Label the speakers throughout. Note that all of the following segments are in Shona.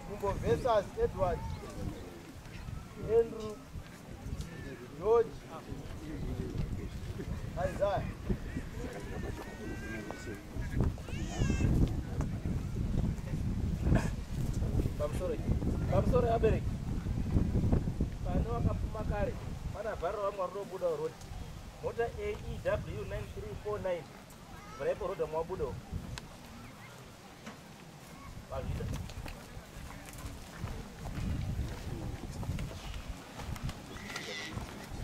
Speaker 1: Gumbo versus Edward Andrew George Isaiah Kamsore Kamsore abereki pane wakapfuma kare pana vharo vamwe vanobuda roti mota AEW 9349 Mvura yeporoda mwabuda uko. Vazvida.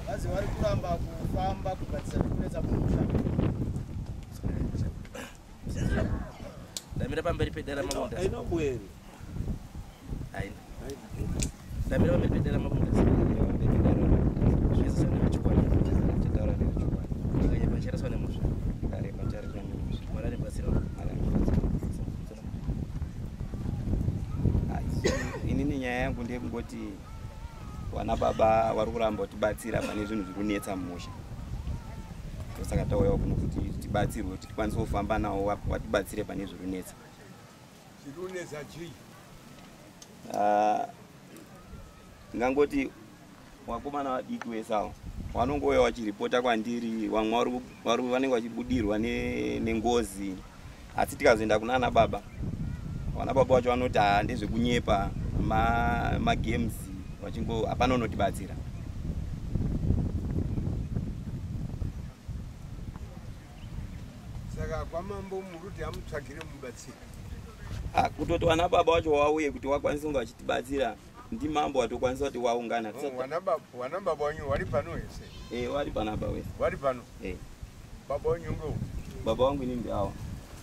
Speaker 1: Vazi vari kuramba kufamba kugadzisa zvekunetsa kumusha. Ndamira pamberi pedera mamonda. Ainobweri. haina ndamira vamepedera mabunda zvezisana vachikwana titaura nevachikwana nyika nyika chariswa nemusha ndareba chariswa nemusha mwana nebatsira mwana ini nenyaya yangu ndeyekungoti vana baba vari kuramba kutibatsira pane zvinhu zviri kunetsa mumusha ndosaka tauyawo kuno kuti tibatsirwe kuti tikwanise kufamba nawo vatibatsire pane zviri kunetsa
Speaker 2: zvirunetsa chii ah,
Speaker 1: ndingangoti wakomana vadiki wese awo wanongouya wachiripota kwandiri vamwe vanenge vachibudirwa nengozi asi tikazoenda kunana baba vana baba vacho vanoti haa ndezvekunyepa magames vachingo hapana unotibatsira
Speaker 2: saka kwamambo muruti amutsvagire mubatsiri ah,
Speaker 1: kutoti vana baba wacho wauye kuti wakwanise kunge vachitibatsira ndimambo watokwanisa kuti waungana wana
Speaker 2: baba wanyu wari pano hese e wari pano aba wese
Speaker 1: wari pano e
Speaker 2: baba wanyu ngo baba wangu ini
Speaker 1: ndiawa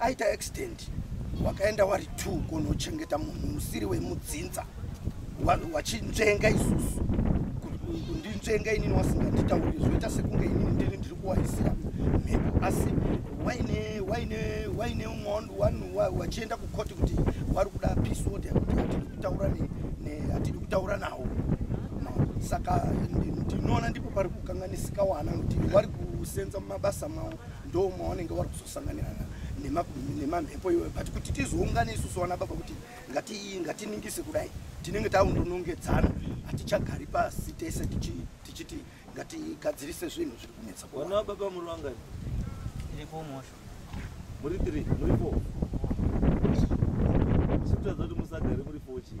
Speaker 3: aita accident wakaenda wari t kunochengeta munhu usiri wemudzinza wachinzvenga isusu kundinzvenga inini wasinganditauri zvoita sekunge inini ndini ndiri kuwaisira mhepo asi waine waine waine umwando wanhu wachienda kukoti kuti wari kuda pisod kuti hatidi kutaura hatidi kutaura nawo saka ndinoona ndipo pari kukanganisika wana kuti wari kusenza mumabasa mawo ndo mawanenge wari kuzosanganirana nemamhepo iwayo but kuti tizoungane isusu vana baba kuti ngatiningise kudai tinenge taundonongedzana hatichagari pasi tese tichiti ngatigadzirise zvinhu zviri kunetsa kuona wababa muri vangani
Speaker 4: muri
Speaker 1: three muri four chikutadza kuti musagare muri four chii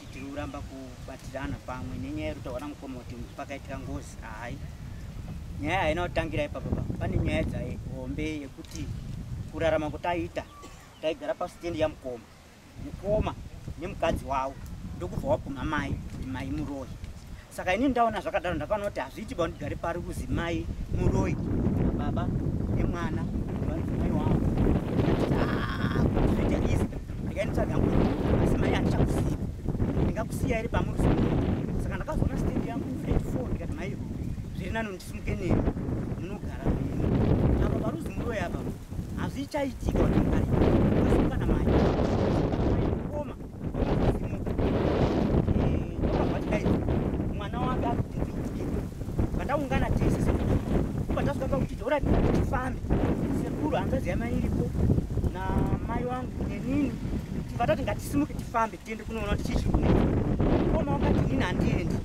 Speaker 4: tiri kuramba kubatirana pamwe nenyaya yekuti taona mukoma kuti pakaitika ngozi hayi nyaya haina kutangira ipapa pa pane nyaya dzahombe yekuti kurarama kutaiita taigara pasitendi yamukoma mukoma nemukadzi wavo ndokubva wabvuma mai mai muroyi saka ini ndaona zvakadaro ndakaona kuti hazviiti ba ndigare pari kuzi mai muroi nababa nemwana vanzi mai wavo zvoita izi ndikainitsvaga yangu asi mai handichakusiya ndingakusiya here pamuri saka ndakazoona stendi yangu flat four ndikati mai zviri nani ndisimuke nemi munogara mimi apa paruzi muroi apa hazvichaitika kuti mugare taungana tese sekuru ipa tasvika pakuti dora tifambe sekuru hanzvadzi yamai iripo namai wangu nenini tibva tati ngatisimuke tifambe tiende kunoona kuti chii chiri kunei koma wakati nini handiendi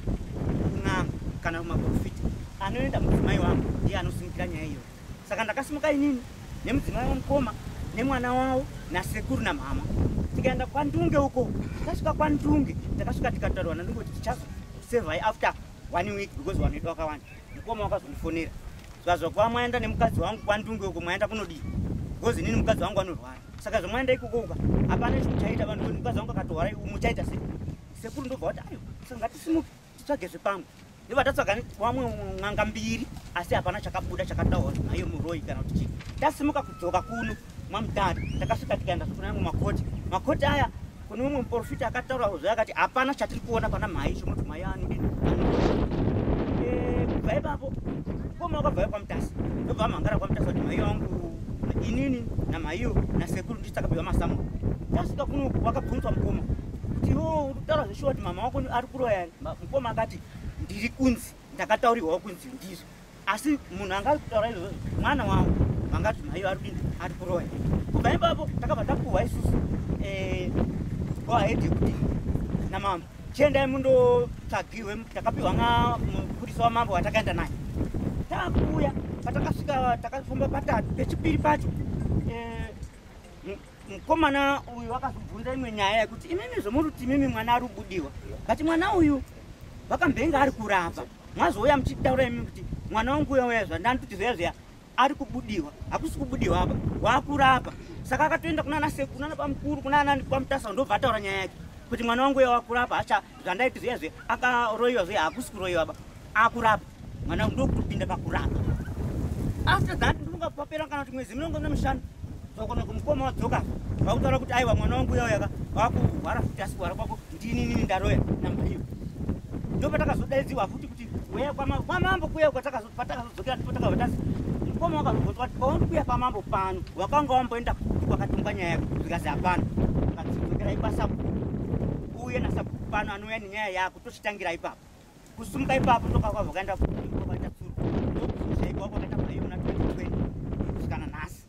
Speaker 4: kun'anga kana kumaprofita anoenda mudzimai wangu ndiye anosimukira nyaya iyoyo saka ndakasimuka inini nemudzimai wamukoma nemwana wavo nasekuru namhama tikaenda kwandunge uko tasvika kwandunge takasvika tikataurwa nandunge kuti tichazosevai after one week because vanhu vedu vakawanda mukoma wakazondifonera zvazo kuva mwaenda nemukadzi wangu kwandunge uko mwaenda kunodii because inini mukadzi wangu anorwara saka zvamwaenda ikokouka hapana chimuchaita vanhu mukadzi wangu akatorwara muchaita sei sekuru ndobva wati ayo saka ngatisimuke titsvage zvepamwe ndiva tatsvaga wamwe n'anga mbiri asi hapana chakabuda chakataura naye muroyi kana kuti chii tasimuka kudzoka kuno mwamudhara takasvika tikaenda zvekuna amwe makoti makoti aya kune mumwe muporofita akataura zve akati hapana chatiri kuona pana mhai chomoti mhai anodii eh, kubva ipapo koma wakabvayo kwamutasi ndobva amhangara kwamutasi kuti mhai wangu inini namhaiyo nasekuru ndisakabviwa masamu tasvika kuno wakabvunzwa mukoma kuti iwo uri kutaura zveshuwa kuti mama wako ari kuroya mukoma akati ndiri kunzi ndakataurirwawo kunzi ndizvo asi munhu anga ari kutaura izvozvo mwana wangu vangati maiyo ari kuinzi ari kuroya kubva ipapo takabva tapuhwa isusu eh, go ahead yekuti namambo chiendai mundotsvagirwe takapiwa nga mupurisa wamambo watakaenda naye takuuya patakasvika takafamba patatu pechipiri pacho eh, mukomana uyu wakazobvunza imwe nyaya yekuti imimi zvomuruti imimi mwana ari kubudiwa kati mwana uyu vakambenge ari kurapa mwazouya muchitaura imimi kuti mwana wangu uya uya zvandanditi zviya zviya ari kubudiwa hakusi kubudiwa apa wakurapa saka akatoenda kunana sekuru nana bamukuru kunana bamutasa ndobva ataura nyaya yake kuti mwana wangu uya wakurapa hacha zvandaiti zviya zve akaroyiwa zve hakusi kuroyiwa ba akurapa mwana ndokutopinda pakurapa after that ndinonga papera kana kuti mwedzi minongo nemishanu zvakona kumukoma wadzoka vakutaura kuti aiwa mwana wangu uyauyaka wakuhwara futi asi kuhwara kwako ndininini ndaroya namba iyo ndopatakazodaidziwa futi kuti weya kwamambo kuya kwatakazo patakazodzokera ndipo takabva tasi mukoma wakazobvunzwa kuti pauri kuya pamambo pano wakanga wamboenda kukuti kwakatumba nyaya yako zvikazi hapana akazodzokerai kwasabhuku uye nasabhuku pano anouya nenyaya yako tochitangira ipapo kusumuka ipapo ndokakwa vakaenda kuaitatsuru ndokuzoshaikwa kwakaita maiona 2020 kusvikana nhasi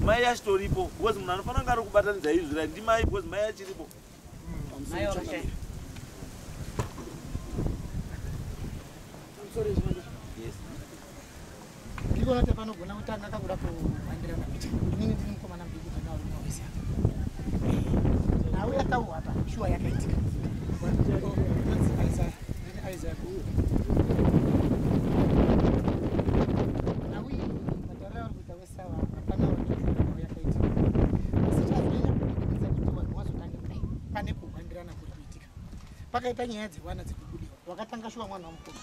Speaker 5: Mai achitoripo because munhu anofanira kunge ari kubatanidza izvi right ndimai because mai achiripo
Speaker 3: ndikona kuti panogona kutanga kakuda kuvandirana kuti inini ndiri mukomana mudiki takaoimaoisa nhau yatauwa apa shuwa yakaitika Isaac. pakaita nyaya dzevana dzekubudiwa wakatanga shuwa mwana wamukuru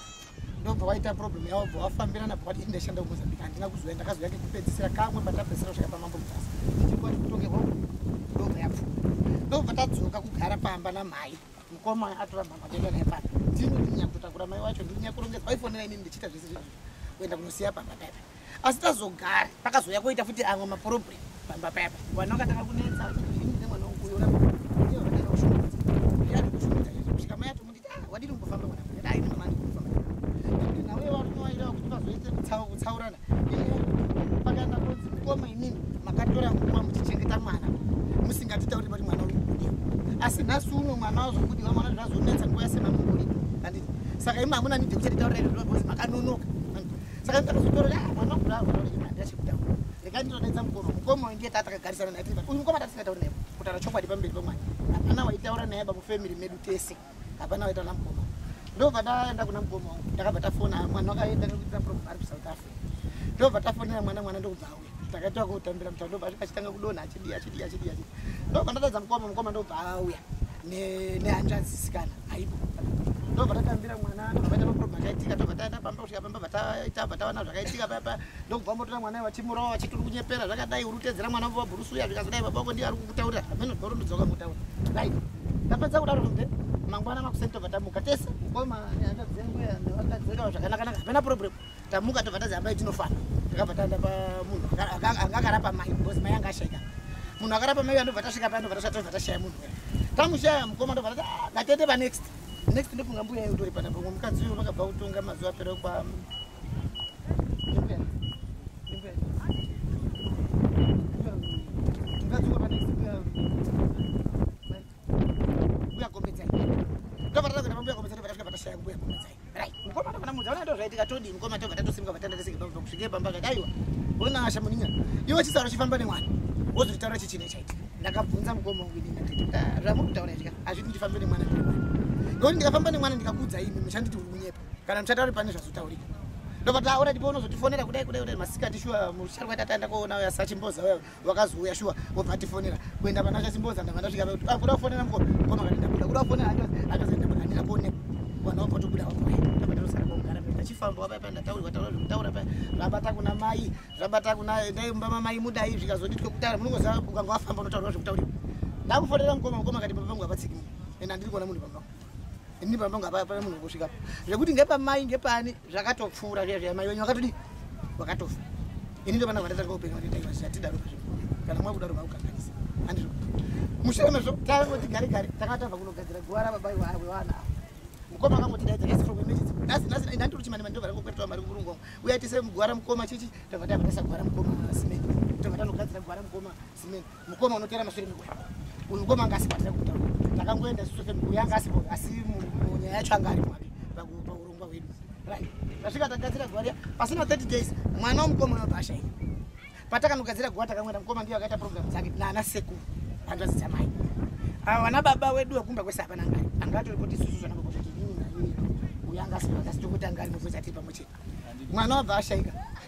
Speaker 3: ndobva waita problem yavo bva wafambirana bva wati indashanda kumozambika handina kuzoya ndakazouya kekupedzisira kamwe patapedzisira kusvika pamambo mutasa ndichikuwa tikutongerwa ndobva yapfuura ndobva tadzoka kugara pamba namhai mukoma atora mama denda naye pano ndini ndinyakutotakura mai wacho ndinyakurongedza waifonera inini ndichiita zvese zvii kuenda kunosiya pamba paipa asi tazogari pakazouya koita futi amwe maporobri pamba paipa vana vakatanga kunetsa vachiiine mwana wokuyora kusvika mai atomunditi ah, wadini kumbofamba mwana aine mama ndikufamba ndinauye varume vairava kuti pazoite kutsaurana pakaenda kunzi mukoma inini makatora nguva muchichengeta mwana musingatitauri pati mwana uri kubudiwa asi nhasi uno mwana wazobudiwa mwana zvazonetsa nguva yase mamungori anditi saka imi hamuna nidi kuchati taura izvo zvinozi makanonoka saka ndakazotora ah, mwana kudaaandachekutaura rekai ndinonetsa mukoma mukoma wainge taa takagarisana naye uyu mukoma tatisingatauri naye kutaura chokwadi pamberi pamwana hapana waitaura naye bamufamily medu tese hapana waita namukoma ndobva ndaenda kuna mukoma wangu ndakabva tafona mwana wakaenda nekuita problem ari kusouth africa ndobva tafonera mwana mwana ndokubva auya takaita kutambira mutano ndobva asvika achitanga kudonha achidii achidii achidii achidii ndobva ndatadza mukoma mukoma ndobva auya nehanzvanzi sikana aipo ndobva tatambira mwana ndobva taita maproblem akaitika ndobva taenda pamba kusvika pamba bva taita bva taona zvakaitika papa ndokubva motora mwana iye vachimurova vachiti uri kunyepera zvakadai uri kutedzera mwana vova bhurusu uya zvikazodai baba vako ndiye ari kukutaurira hameno ndorondudza ukamutaura dai ndapedza kudaro mbe mangwana makuseni tobva tamuka tese mukoma neakadzenguyaakadzengawa zvakanakanaka hapena problem tamuka tobva tazi hambai tinofana takabva taenda pamunhu anga akarapa mai bcause mai anga ashaika munhu akarapa mai uya ndobva tasvika paya ndobva tasvika tobva tashaya munhu tamushaya mukoma ndobva tati ah, ngatende panext next ndofunga mbuya yeutori pana pamwe mukadzi uyo vakabva kutonga mazuva
Speaker 6: apera kwa Right. mukoma kana mudza ona ndozvaitika todi mukoma toga tatosimuka vatanda tese kebamba kusvike bamba kati aiwa ona asha muninga iwe chisaro chifamba nemwana wozotitaura chichine chaitika ndakabvunza mukoma wangu ini ndikati ah, zvamuri kutaura izvika hazviti ndifambe nemwana nekuti ndikafamba nemwana ndikakudza imi muchanditi uri kunyepa kana muchatauri pane zvazotaurika ndobva taura ndipo unozotifonera kudai kudai kudai masikati shuwa musharwa tatanda kuona uya sachimboza uya wakazouya shuwa obva atifonera kuenda pana chasimboza ndava ndasvika kuti ah, kuda kufonera mko koma kati ndabuda kuda kufonera akazoenda pakandira kuone vanhu vabva tobuda vakuya tabatarosara kogara ndachifamba wapaipa ndataurwa taura zvekutaura paya zvabata kuna mai zvabata kuna dai mumba mamai mudai zvikazoditwe kutaura munongoziva ukanga wafamba unotaurwa zvekutaurira ndakufonera mukoma mukoma kati baba vangu havatsiki ende handiri kuona munhu baba vangu ini baba vangu hapaa pane munhu wekusvikapo zvekuti ngepamai ngepani zvakatopfuura zviya zviya mai wenyu vakatodii vakatofa ini ndovana vandatanga upenyu vanitaivaziva tidaro pazvo kana mwa kudaro vakukanganisa andizvo mushure mezvo tangoti gare gare tanga tava kunogadzira guva rababa wevana ava mukoma akangotidaidza nasi from emergency nasi nasi ndanditori chimani mani ndovara ngokwetwa mari kumurungu wangu uya tise guva ramukoma chichi tava tava tasa guva ramukoma simeni tava tanogadzira guva ramukoma simeni mukoma unotora mashure mekuda uyu mukoma anga asibatira kutaura takangoenda susofe uyu anga asipo asi munyaya yacho anga ari mwake paurongwa hwedu tasvika tagadzira guva riya pasina 30 days mwana womukoma unobasha iyi patakanogadzira guva takangoenda mukoma ndiyo akaita program dzake naana sekuru hanzvadzi dzamai ava vana baba wedu wekumba kwese hapana ngari anga atori kuti isusu zvanakokotakiinini uyu anga asipo asi tokutanga ari mukwezatiri pamwe chete mwana wabva ashaika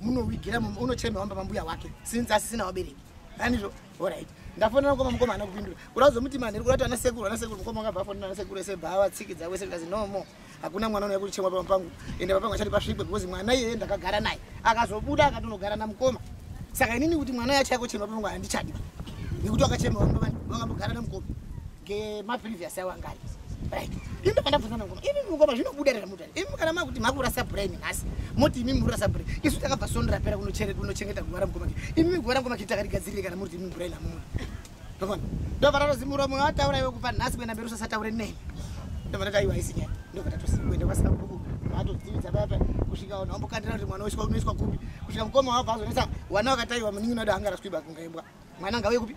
Speaker 6: munowigira unochema wamba mambuya wake since asisina wabereki anizvo orit ndafonera mukoma mukoma ana kupindura kuda kuzomuti manheri kurati ana sekuru ana sekuru mukoma akabva afonera ana sekuru ese bhaa vatsikidza wese ndikazi no more hakuna mwana unouya kuchemwa pama pangu ende papangu achati pasvikwe because mwana iyeye ndakagara naye akazobuda akatonogara namukoma saka inini kuti mwana yacho yakochema papangu handichadi nekuti wakachema vangambogara namukoma Ge ma previous awa ngari. Right. Imi kana bvunza ngoma. Imi ngoma zvinobuda rera mutani. Imi kana makuti makura sabura imi nhasi. Moti imi mura sabura. Isu takabva sondo rapera kunochere kunochengeta gwara ngoma. Imi gwara ngoma kitaka rigadzirire kana muri imi brain amuna. Ndovana. Ndovana rozimura mwe ataura iwe kubva nhasi kwenda mberi usasataure nei. Ndovana taiwa isinya. Ndovana tosikwenda kwasika kuku. Vato dzivitsa baba kusvika ona ombokandira kuti mwana weswa unoiswa kupi. Kusvika mukoma wabva azonesa wana wakataiwa muningi unoda angara swiba kungaimbwa. Mwana ngauye kupi?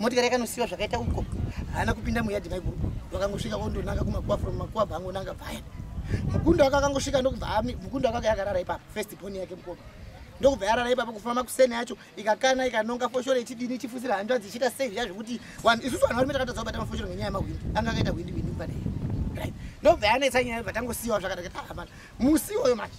Speaker 6: motikari yakanosiwa zvakaita uko haana kupinda muyadhi maiguru vakangosvika vondonanga kumakuwa from makuwa bhangonanga paya mukundo wake akangosvika ndokubva mukundo wake akayakarara ipapo first boni yake mukoma ndokubva yarara ipapo kufamba kuseni yacho ikakana ikanonga foshoro ichidini ichifusira hanzvadzi ichiita sei zviya zvekuti isusu vanhu varume takatadza kubata mafoshoro ngenyaya yemahwindi anga akaita hwindi hwindi kupadei ndokubva yanetsa nyaya vatangosiyiwa zvakadakata ah, musi iwoyo manje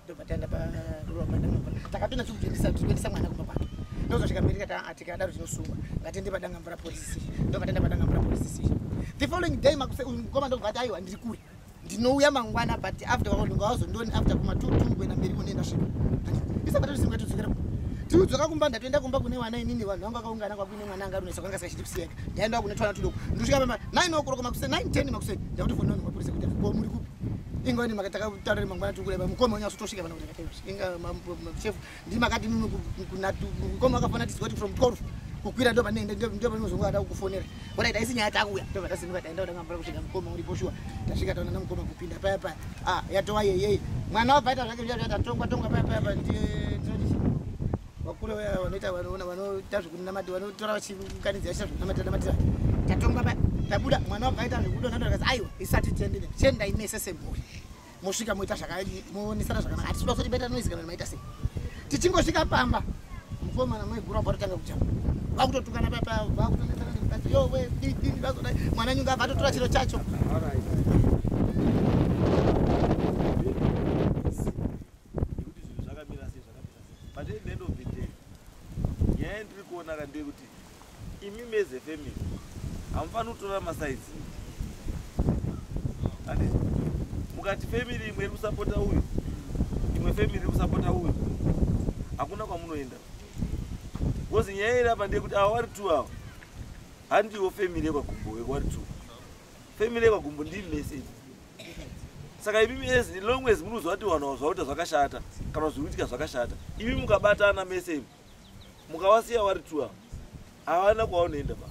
Speaker 6: ndobva taenda paruva padangambura takapinda tikuendesa tikuendesa mwana kumba kwake ndozvasvika mberi kata atika adaro tinosungwa ngatiende padangambura police station ndobva taenda padangambura police station the following day makuse uyu mukoma ndobva ati aiwa ndiri kure ndinouya mangwana but after waononga wazondoni after kuma two two kuenda mberi kone ndasvika isabatatosimba tidzokera tiudzoka kumba ndatoenda kumba kune vana inini vanhu vangu vakaungana kwakuine mwana anga runesa kwanga sikachiti kusiyeka ndaenda kune twana tudoko ndosvika pama nine okuroko makuse nine ten makuse ndakuti fononi mapurisa kuti ko muri kupi inga ni makataka tarare mangwana tukule ba mukoma unya sotosika bana kuti kateus inga chef ndi makati mimi kunatu mukoma akafana tisi kuti from 12 kukwira ndo pane ndo ndo pane uzongo ada kukufonera bona ida isinya yata kuya ndo vata sinuka taenda udanga mbara kusvika mukoma uri poshua tasvika taona mukoma kupinda paya paya ah yatowa yeye mwana wabva ita zvake zviyata tongwa tongwa paya paya ndi vakuru vaya vanoita vanoona vanoita zvekunamati vanotora vachiunganidzira chita zvekunamati namatira tatongwa pa tabuda mwana wabva aita zvekudo nando akazi aiwa isati tiendine tiendai mese semhuri mosvika moita zvakamonesana zvakanaka hatisiuda kuti beta noise kana maita sei tichingosvika pamba mukomana maigura bva totanga kujamba vakutotukana papa vakutonesana nemukadzi yowe didini vazoda mwana nyunga abva atotora chiro chacho nekuti zvinhu zvakamira
Speaker 5: sei zvakamira sei but at the end of the day nyaya yandiri kuona ka ndeyekuti imi meze family hamufaniri kutora masaizi andi mukati family imwe iri kusapota uyu imwe family iri kusapota uyu hakuna kwamunoenda bcause nyaya iri apa ndeyekuti awa wari two awa handiwo family yekwagumbo wekwari two family yekwagumbo ndii message saka imi as long as munoziva kuti vanhu zvauta zvakashata kana zviri kuitika zvakashata imi mukabatana mese imi mukavasiya vari tua havana kwavanoenda ba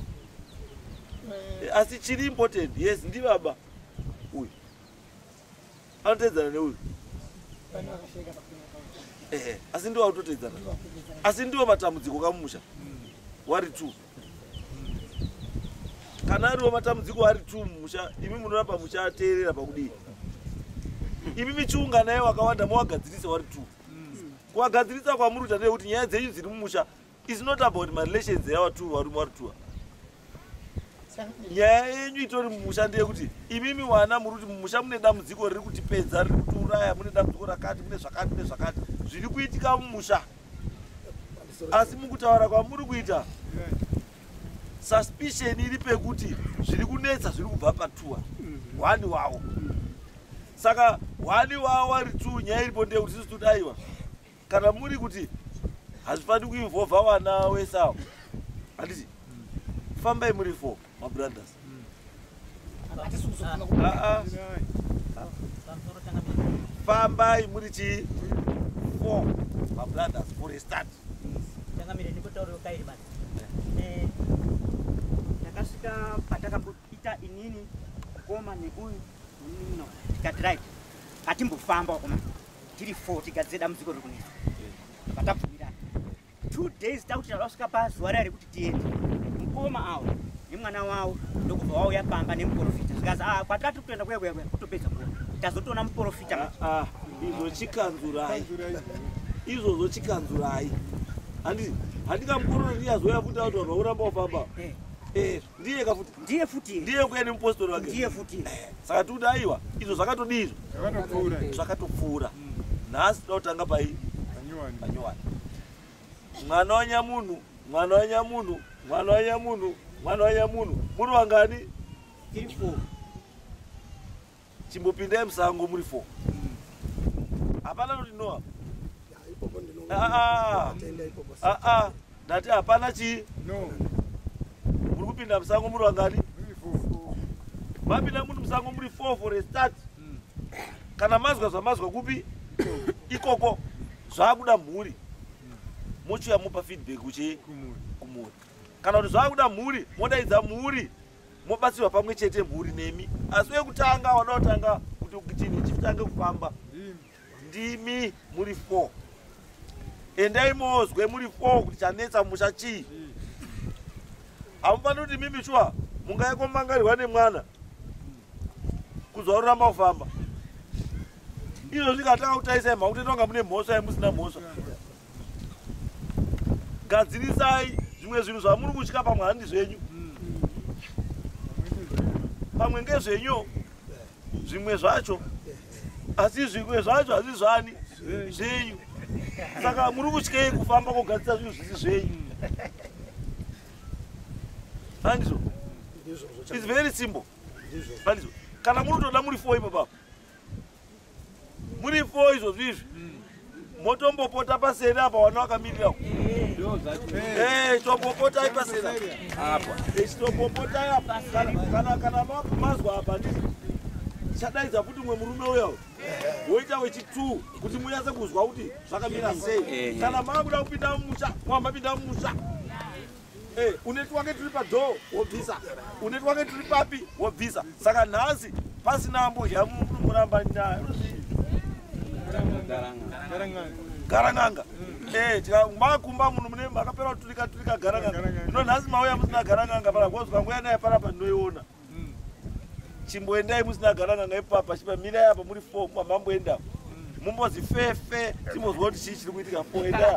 Speaker 5: eh, asi chiri important yes ndi baba uyu anotedzana neuyu ehe asi ndiwo akutotedzana asi ndiwo matambudziko kamumusha wari two kana ariwo matambudziko ari two mumusha imi munoramba muchateerera pakudii imi michiunga naye wakawanda mowagadzirisa wari two kuwagadzirisa kwamuri kuita ndeye kuti nyaya dzenyu dziri mumusha is not about marelations yawa two varume wari two nyaya yenyu itori mumusha ndeyekuti imimi wana muri kuti mumusha mune dambudziko riri kutipedza riri kutiuraya mune dambudziko rakati mune zvakati mune zvakati zviri kuitika mumusha asi mukutaura kwamuri kuita suspicion iri pekuti zviri kunetsa zviri kubva patuwa hwani wawo saka hwani wawo wari two nyaya iripo ndeyekuti sisi tudaiwa kana muri kuti hazvifaniri kuinvolva wana wesawo handiti fambai muri four mabrothers Aa. fambai muri chii four mabrothers for a start changamire ndikotauriro kairi mani Eh,
Speaker 4: ndakasvika patakambopita inini mukoma neuyu nemumino tikati right ngatimbofamba wakoma tiri four tigadzire dambudziko riri kunetsa patabvumirana two days takuti tavasvika pazuva rari kuti tiende mukoma awo nemwana wawo ndokubva wauya pamba nemuporofita zvikazi a ah, kwatira tiri kutoenda kuya kuya kuya kutopedza nguva tazotoona muporofita ah, ah, izvo chikanzurai
Speaker 5: izvozvo chikanzurai handikamukorona ndiyazoya futi auti vanhu vakuramba wafamba eh. eh. ndiye ka futi ndiye futi ndiye kuya nemupostori wake ndiye futi eh, saka
Speaker 4: tikuti aiwa
Speaker 5: izvo zvakatodii izvo zvakatopfuura zvakatopfuura nhasi toda kutanga pai panyowani mwana wanyamunhu mwana wanyamunhu mwana wanyamunhu mwana wanyamunhu muri vangani chimbopindai musango muri fo hapana noti noa ah, ah, ah, ndati hapana chii muri kupinda musango muri vangani mapinda muri musango muri fo for a start hmm. kana mazwa zvamazwa kupi ikoko zvakuda mhuri hmm. mochiuya mopa feedback uchi kumhuri kana kuti zvakuda mhuri modaidza mhuri mobatsirwa pamwe chete mhuri nemi asi wekutanga wanaotanga kuti ukitini chitange kufamba ndimi muri four endai mozwe muri four kuti chanetsa musha chii hamufaniri kuti mimi shuwa mungaikomangarirwa nemwana kuzoruramba kufamba izvo zvikatanga kutaisa imha kuti tonga mune mhosva yemusina mhosva gadzirisai zvimwe zvinhu zvamuri kutya pamwe handi zvenyu pamwe ngezvenyu zvimwe zvacho asi zvimwe zvacho hazvi zvani zvenyu saka muri kutyei kufamba kogadzisa zvinhu zvisi zvenyu andizvo its very simple andizvo kana muri kutoda muri fo ipo papa muri fo izvozvo izvi motombopota paseri apa wana wakamirira eh, tombopotai paseri apa eh, tombopotai apa kana mazwa apa ndii chadaidza kuti mwe murume uya woita wechitwo kuti munyatse kuzwa kuti zvakamira sei eh, kana maakuda kupinda mumusha mwamapinda mumusha Eh, une twake turi padhoo wobvisa une twake turi papi wobvisa saka nhasi pasina ambodya muramba nyaya garanganga eh, makumba munhu mune makapera kuturika turika garanganga ino nhasi mauya musina garanganga panakozwa nguya naye panapa ndinoiona chimboendai musina gara n'anga ipapa chipa mirai apa muri fo mamamboenda mumbozi fefe timbozwa kuti chii chiri kuitika fo
Speaker 7: endai